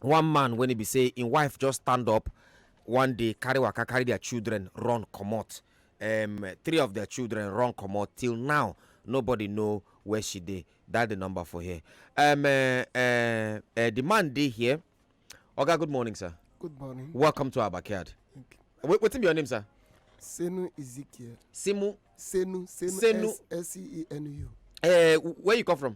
one man wen e be say im wife just stand up one day carry waka carry dia children run comot um, three of their children run comot till now nobody know where she dey that the number for here um, uh, uh, uh, the man dey here oga good morning sir good morning welcome to our backyard Wait, wetin be your name sir senu ezekiel simu senu senu senu s-e-n-u uh, where you come from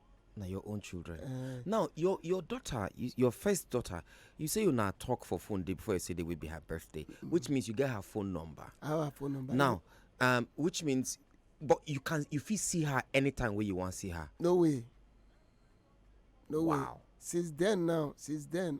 na your own children eh. now your your daughter your first daughter you say you na talk for phone day before you say day will be her birthday which means you get her phone number our phone number now um, which means but you can you fit see her anytime wey you wan see her no way no way wow since then now since then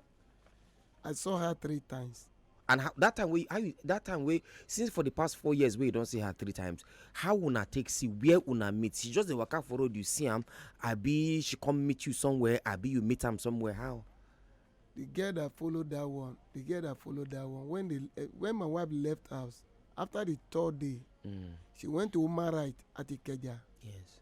I saw her three times. And how, that time we how you, that time we since for the past four years we don't see her three times. How una take see where una meet? She just dey waka for road you see am. Abi she come meet you somewhere. Abi you meet am somewhere. How? The girl that followed that one, the girl that followed that one. When the uh, when my wife left house after the third day, mm. she went to Umarite at Ikeja. Yes.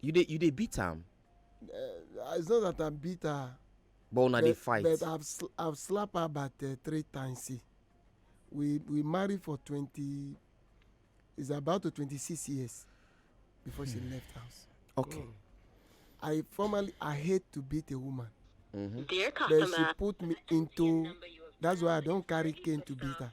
you dey you dey beat am Uh, it's not that I'm bitter. but una dey but- fight But I've sl- I've slapped her about uh, three times. See, we we married for twenty. It's about to twenty six years before she Hmm. left house. okay I formerly I hate to beat a woman, Mm-hmm. Dear but she customer, put me into. That's why I don't carry cane to beat her.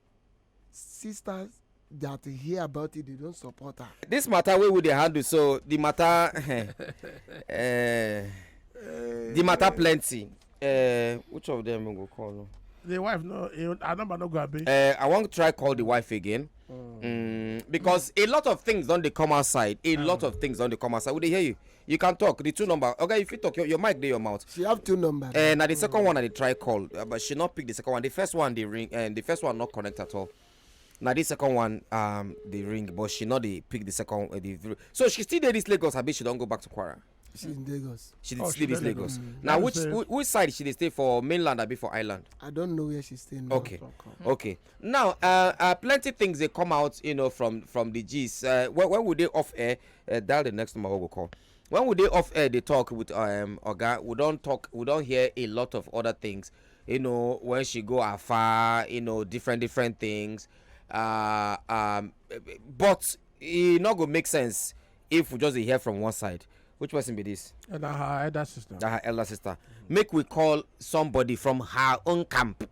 sisters that hear about it they don't support her. this matter wey we dey handle so the matter uh, the matter eh. plenty uh, which of them we go call no. the wife no her number no go abi. Uh, i wan try call the wife again. Mm. Mm, because a lot of things don dey come outside a mm. lot of things don dey come outside we dey hear you. you can talk the two number okay if you talk your, your mic dey your mouth. she have two number. Uh, eh, na the second one i dey try call uh, but she no pick the second one the first one dey ring uh, the first one no connect at all na the second one um, dey ring but she no dey pick the second uh, the so she still dey this lagos abi she don go back to kwara. she in lagos. she dey oh, still dey lagos. Mm. na which which side she dey stay for mainland abi for island. i don know where she stay now. okay okay now uh, uh, plenty things dey come out you know, from from the gist uh, when, when we dey off air Uh, that the next number we go call. When we dey off air, they talk with um Oga. We don't talk. We don't hear a lot of other things. You know, when she go afar, you know, different different things. Uh, um, but it not go make sense if we just hear from one side. Which person be this? And her elder sister. Her elder sister. Mm -hmm. Make we call somebody from her own camp.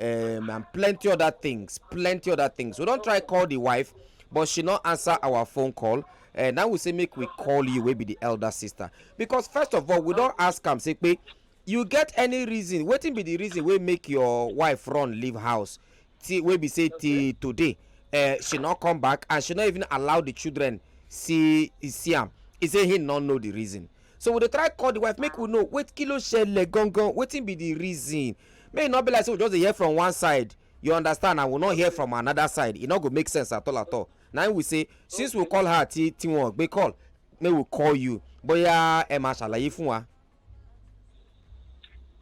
um, and plenty other things plenty other things we don try call the wife but she no answer our phone call and eh, now we say make we call you wey be the elder sister because first of all we don ask am say pe you get any reason wetin be the reason wey make your wife run leave house till wey be say till today uh, she no come back and she no even allow the children see see am he say he no know the reason so we dey try call the wife make we know wait kí ló ṣẹlẹ̀ gangan wetin be the reason make e no be like say we just dey hear from one side you understand and we no hear from another side e no go make sense at all at all na im we say since we call her ti ti wọn gbé call make we call you bóyá ẹ máa ṣàlàyé fún wa.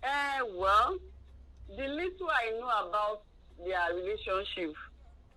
Eh, well, the little I know about their relationship,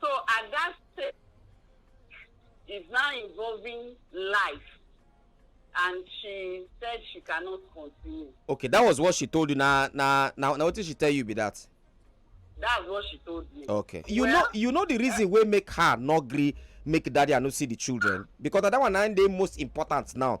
So at that stage, is now involving life and she said she cannot continue. okay that was what she told you na na na na wetin she tell you be that. that's what she told me. okay you well, know you know the reason wey make her no gree make daddy and no see the children because that one na dey most important now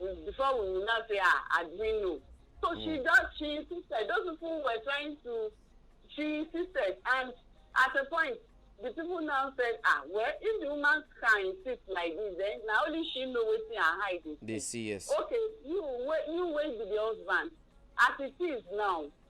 mm, before we will now say ah admino so mm. she just she insisted those people were trying to she insisted and at a point the people now said ah well if the woman can insist like this then na only she know wetin her eye dey see. dey see yes. okay you wey you wey be the husband as it is now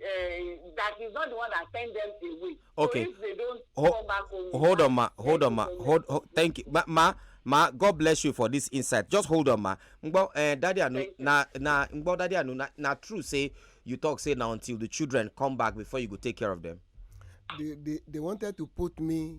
uh, that he's not the one that sent them away. Okay. So if they don't Ho come back home, hold on, ma. Hold on, ma. Hold, hold. Thank you, ma. ma ma god bless you for this insight just hold on ma ngbo eh, daddy anu na na ngbo daddy anu na, na true say you talk say na until the children come back before you go take care of them. they they they wanted to put me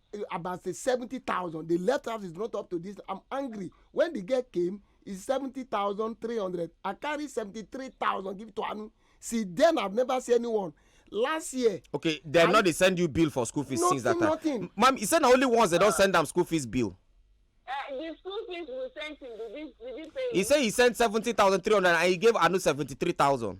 eh, about say seventy thousand the left house is not up to this i'm angry when the girl came is seventy thousand three hundred i carry seventy three thousand give to anu see then i've never seen anyone last year. okay dem no dey send you bill for school fees nothing, since that time nothing. ma'am you say na only once they don send am school fees bill. Uh, the school fees we sent him did he did he pay. he say he sent seventy thousand three hundred and he gave anu seventy three thousand.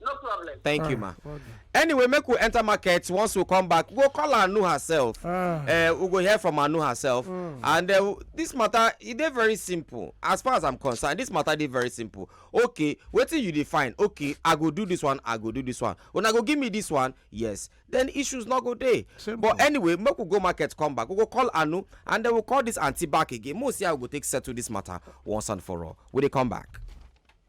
no problem. thank you ma ah, anyway make we enter market once we come back we go call anu herself ah. eh, we go hear from anu herself hmm. and eh, this matter e dey very simple as far as i'm concerned this matter dey very simple okay wetin you dey find okay i go do this one i go do this one una go give me this one yes then issues no go dey but anyway make we go market come back we go call anu and then we call this aunty back again make we see how we go take settle this matter once and for all we dey come back.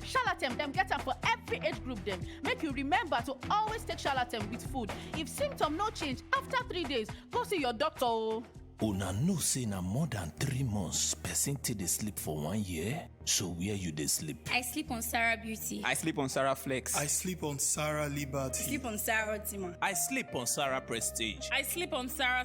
Shalatem dem get am for every age group dem. Make you remember to always take Shalatem with food. If symptom no change after three days, go see your doctor o. Una know say na more than three months person take dey sleep for one year? So where you dey sleep? I sleep on Sarah Beauty. I sleep on Sarah Flex. I sleep on Sarah Liberty. sleep on Sarah Ultima. I sleep on Sarah Prestige. I sleep on Sarah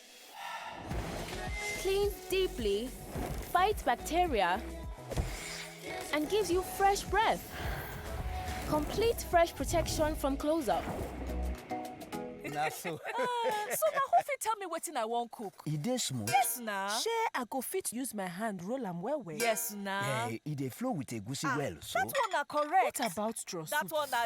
Cleans deeply, fights bacteria, and gives you fresh breath. Complete fresh protection from close-up. na so so na who fit tell me wetin i wan cook e dey smooth yes na shey i go fit use my hand roll am well well yes na eh e dey flow with egusi ah, well so that one na correct what about draw soup that one na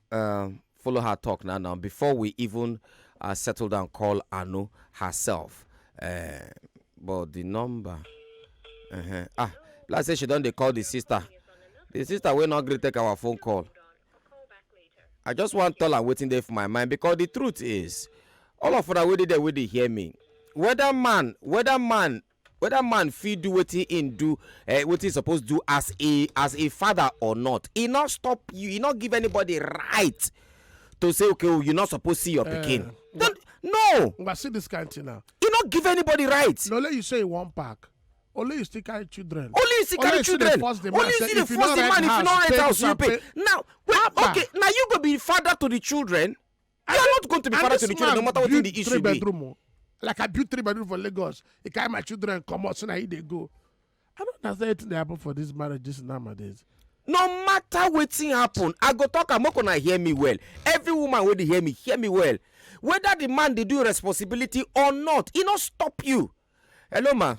um, follow her talk now now before we even uh, settle down call anu herself uh, but the number uh-huh. ah like say she don dey call the sister the sister wey no gree take our phone call i just wan tell am wetin dey for my mind because the truth is all of una wey dey there wey dey hear me whether man whether man whether man fit do wetin im do eh, wetin im suppose do as a as a father or not e no stop you e no give anybody right to say okay oh you no suppose see your pikin Then, no Ngba, see this kind thing now. e no give anybody right No, let you say you wan pack. Only you still carry children. only you still carry still dey children force the man only you say still dey if you force no the rent man if you no house, rent pay house you pay pay. now wait Abba. okay na you go be father to the children you are not going to be father to the children no matter wetin the issue be. Oh. like i build three bedroom for lagos e carry my children comot so na he dey go i don't understand wetin dey happen for this marriage this nowadays no matter wetin happen i go talk am make una hear me well every woman wey dey hear me hear me well whether the man dey do responsibility or not e no stop you hello ma.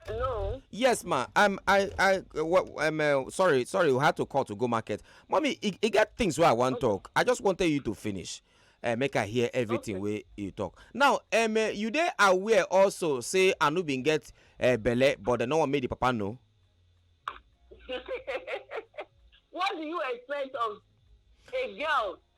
hello. yes ma um, i i well, um, uh, sorry sorry we had to call to go market mommy e, e get things wey i wan okay. talk i just wanted you to finish uh, make i hear everything okay. wey you talk now um, uh, you dey aware also say anu bin get uh, belle but dem no wan make the papa know. what do you expect of a girl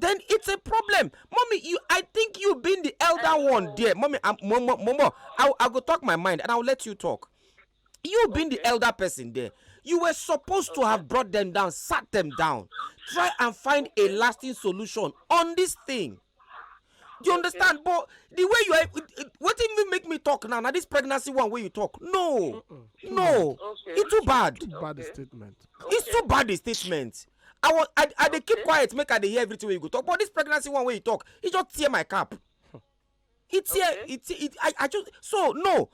then it's a problem mommy you i think you being the elder one there mommy i'm momo momo i i go talk my mind and i'll let you talk you okay. being the elder person there you were supposed okay. to have brought them down sat them down try and find a lasting solution on this thing do you understand okay. but the way you are what did you make me talk now now this pregnancy one way you talk no mm -mm. no okay. it's too bad too bad okay. statement it's too bad a statement i was i, I dey keep quiet make i dey hear everything wey you go talk but this pregnancy one wey you talk e just tear my cap e tear okay. e tear e i i just so no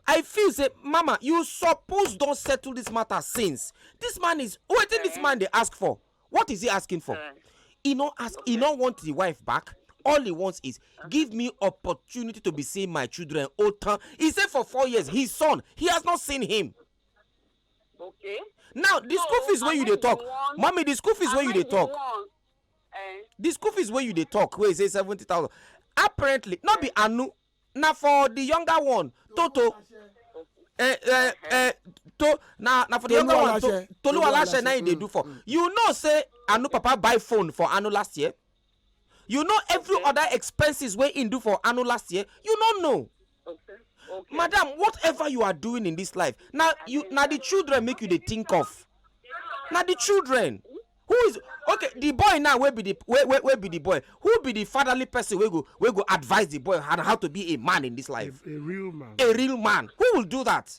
i feel say mama you suppose don settle this matter since this man is wetin okay. this man dey ask for what is he asking for okay. he no ask okay. he no want the wife back all he wants is give me opportunity to be seeing my children otan he say for four years his son he has not seen him okay now the school fees wey you dey talk mommy the school fees wey you dey talk eh? the school fees wey you dey talk wey say seventy thousand apparently no be anu na for the younger one toto eh, eh, eh, to na na for the younger one toluwalashe na him dey do for mm. you know say anu papa buy phone for anu last year. you know every okay. other expenses wey him do for anu last year you no know okay. Okay. madam whatever you are doing in this life na you na the children make you dey think of na the children who is okay the boy now wey be the wey wey wey be the boy who be the fatherly person wey go wey go advise the boy on how to be a man in this life a, a real man a real man who will do that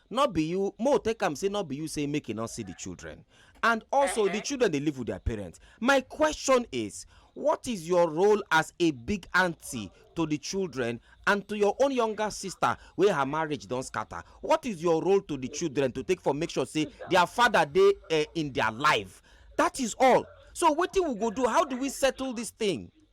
no be you mo take am say no be you say make e no see the children and also the children dey live with their parents my question is what is your role as a big aunty to the children and to your own younger sister wey her marriage don scatter what is your role to the children to take for make sure say their father dey uh, in their life that is all so wetin we go do how do we settle this thing.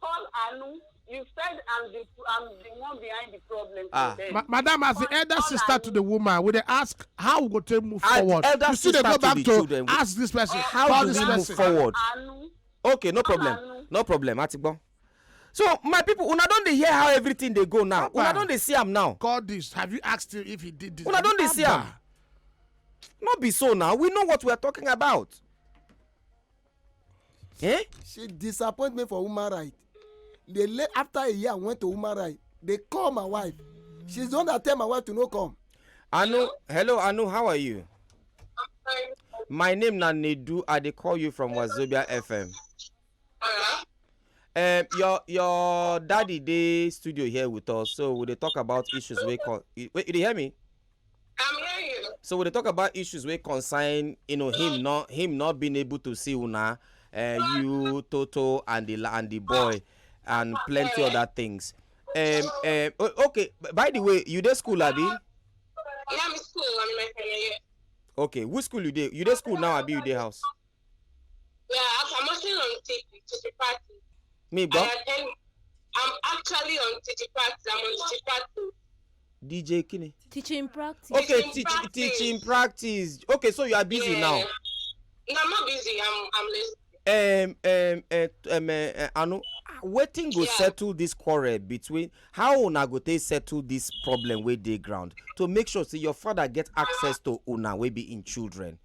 call Anu. You said I'm the I'm the one behind the problem. Ah. Ma madam, as the elder sister to the woman, we they ask how we go to move and forward. Elder you see, they go back to, children, ask this person. Eh, how do we move forward? Anu. Okay, no problem. Anu. No problem. Atigbon. So my people, una don dey hear how everything dey go now. Una don dey see am now. Call this. Have you asked him if he did this? Una don dey see am. No be so now. We know what we are talking about. Eh? She disappointment for human right. They lay after a year went to human right. They call my wife. She's the one that tell my wife to no come. Anu, hello Anu, how are you? My name na Nedu. I dey call you from Wazobia FM. Uh-huh. Um, your your daddy dey studio here with us, so we dey talk about issues wey come. Wait, you dey hear me? I'm hearing you. So we dey talk about issues wey concern you know him not him not being able to see una, uh, you Toto and the and the boy and plenty other things. Um, um, okay. By the way, you dey school, Abi? Yeah, I'm in school. I'm in my final year. Okay, which school you dey? You dey school now, Abi? You dey house? Yeah, I'm, I'm actually on Titi, Titi Party. mi I gbọ́ attend, I'm actually on Titi Party. I'm on Titi Party. dj kini. teaching practice. okay Teaching teach, practice. teaching practice okay so you are busy yeah. now. No, I'm not busy. I'm, I'm listening. um, um, uh, um, uh, Anu, wetin go Yeah. settle this quarrel between how una go take settle this problem wey dey ground to make sure say your father get access to una wey be im children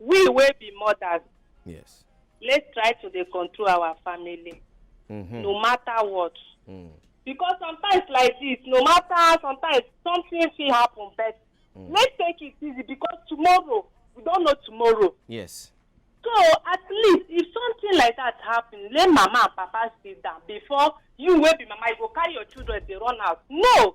we wey be mothers yes let's try to dey control our family mm-hmm. no matter what mm. because sometimes like this no matter sometimes something fit happen but mm. let's take it easy because tomorrow we don't know tomorrow yes so at least if something like that happen let mama and papa sit down before you wey be mama you go carry your children dey run out no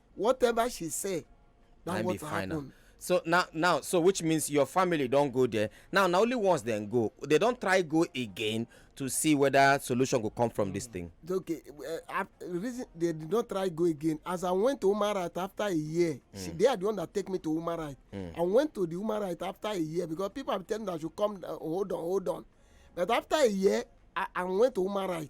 whatever she say na what happen. so now now so which means your family don go there now na only once dem go they don try go again to see whether solution go come from this thing. okay uh, reason they did not try go again as i went to human right after a year mm. see they are the one that take me to human right mm. i went to the human right after a year because people have tell me that i should come uh, hold on hold on but after a year i i went to human right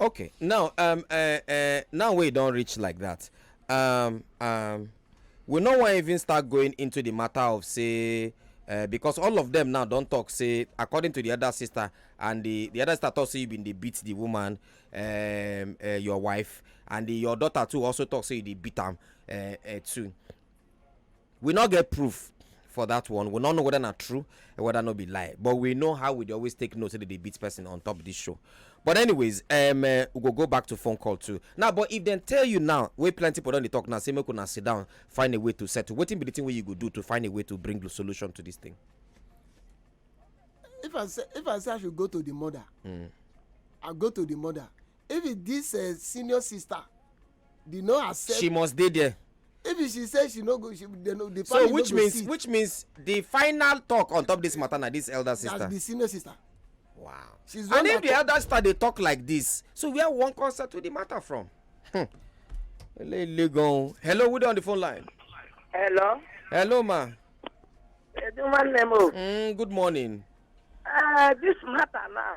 Okay, now um uh, uh, now we don't reach like that. Um um we no wan even start going into the matter of say uh, because all of them now don talk say according to the other sister and the the other sister talk say you bin dey beat the woman um, uh, your wife and the, your daughter too also talk say you dey beat am uh, uh, too we no get proof for that one we no know whether na true or whether no be lie but we know how we dey always take note say they dey beat person on top this show but anyways um, uh, we go go back to phone call too now but if dem tell you now wey plenty people don dey talk now say make una sit down find a way to settle wetin be the thing wey you go do to find a way to bring the solution to this thing. if i say if i say i should go to the mother mm. i go to the mother if it this uh, senior sister they no accept. she must dey there. if she say she no go she they no the so which no means sit. which means the final talk on top this matter na this elder sister. that's the senior sister. wow She's and if the elder sister dey talk like this so where one come settle the matter from. Hmm. hello who dey on the phone line. hello. hello ma. Mm, good morning. Uh, this matter now.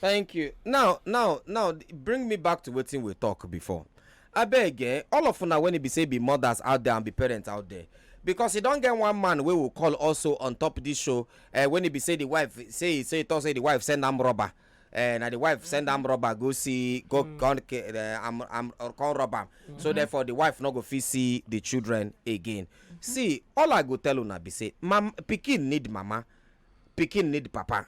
thank you now now now bring me back to wetin we talk before abeg eh all of una when e be say be mothers out there and be parents out there because e don get one man wey we call also on top this show eh, when e be say the wife say say e talk say the wife send am rubber eh, na the wife send am rubber go see go mm. come eh, am am uh, come rob am mm-hmm. so therefore the wife no go fit see the children again mm-hmm. see all i go tell una be say mam pikin need mama pikin need papa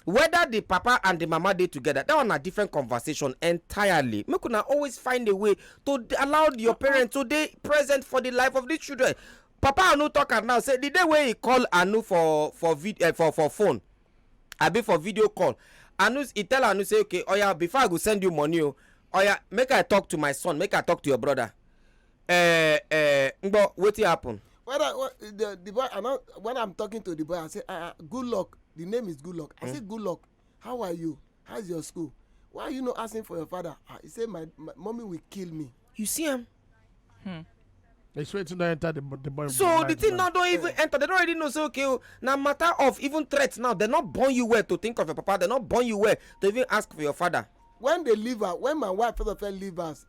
Whether the papa and the mama dey together, that one na different conversation entirely. Make una always find a way to d- allow your parents to dey present for the life of the children. Papa Anu talk am now say the day wey he call Anu for for vid eh, for for phone, abi for video call, Anu he tell Anu say okay, oya before I go send you money o, oya make I talk to my son, make I talk to your brother. eh eh ngbo wetin happen. when i when the, the boy i no when i'm talking to the boy i say ah uh, good luck the name is good luck i mm. say good luck how are you how is your school why are you not asking for your father ah he say my, my mommy will kill me. you see am. Hmm. They swear to not enter the, the boy. So the thing now don't even enter. They don't already know. So okay, oh, now matter of even threats now. They're not born you well to think of your papa. They're not born you well to even ask for your father. When they leave her, when my wife first of all leave us,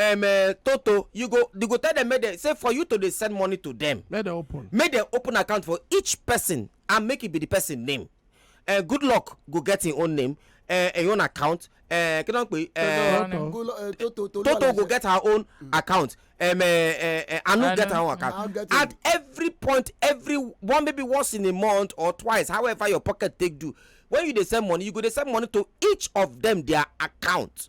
um, uh, toto you go you go tell them make they say for you to dey send money to them make they open make they open account for each person and make it be the person name uh, good luck go get him own name uh, him own account uh, kí ló ń pè uh, toto toto go get her own mm. account um, uh, uh, uh, anu get her own account get at every point every one maybe once in a month or twice however your pocket take do when you dey send money you go dey send money to each of them their account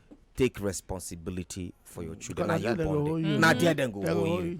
take responsibility for your children na you born them na there dem go hold you.